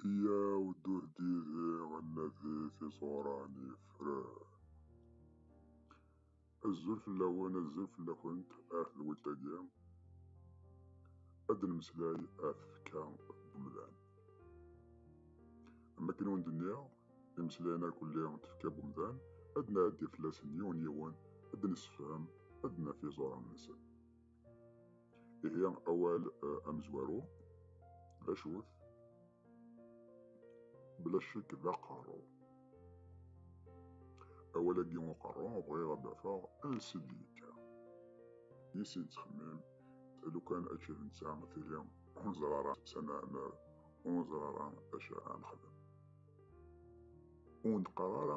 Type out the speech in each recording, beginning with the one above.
Iyyaw d ur d-yidhi ad nadi tiẓura n yifran. Azul fell-awen, azul fell-akent ah lweltagi, ad d-nemmeslay ah tfekka n umdan. Am akken i wen-d-nniɣ, imeslayen irkelli n tfekka n umdan, ad d-nɛeddi fell-asen yiwen yiwen, ad d-nessefhem, ad d-naf iẓuran-nsen. ihi awal eh, amezwaru d acu-t bla ccek d aqerru awal-agi uqerru bɣiɣ ad d-afeɣ ansi d-yekka yisi yettxemmim lukan ačči d netta tili ur neẓra ara sana amar ur neẓra ara acu ara nexdem ur neqqar ara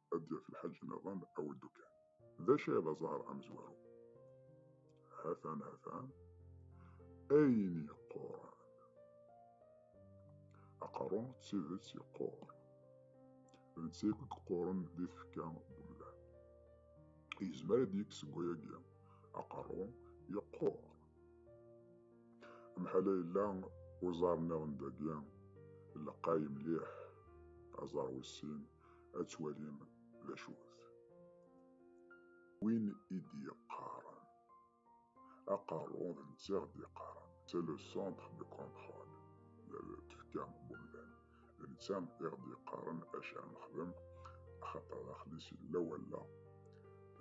ad d-yaf lḥaǧ niḍen awi ddukan. D acu ay d aẓar amezwaru? Hatan hatan ayen yeqquren. Aqerru d tidet yeqqur. D netta akk i yeqquren di tfekka n umdan. Yezmer ad d-yekk seg wayagi aqerru yeqqur. Mḥala yella uẓar niḍen dagi lqay mliḥ aẓar wis sin ad twalim d acu-t. Win i d-yeqqaren aqerru d netta i ɣ-d-yeqqaren, c'est le centre de contrôle d tfekka n umdan, d netta i ɣ-d-yeqqaren acu ara nexdem axaṭer daxel-is yella wallaɣ,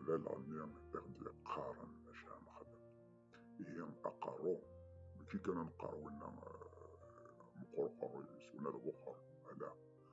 d aleɣmi i ɣ-d-yeqqaren acu ara nexdem. Ihi aqerru, mačči kan ad neqqar winna meqqur uqerru-is, winna d awexxer, ala.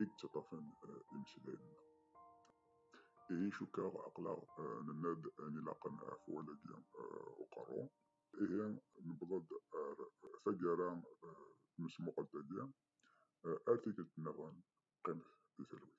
i yettaṭṭafen imeslayen-nneɣ. Ihi cukkeɣ aqlaɣ nenna-d ayen ilaqen ɣef wallagi uqerru. Ihi newweḍ-d ar taggara n tesmuqelt-agi, ar tikkelt nniḍen qqimet di talwit.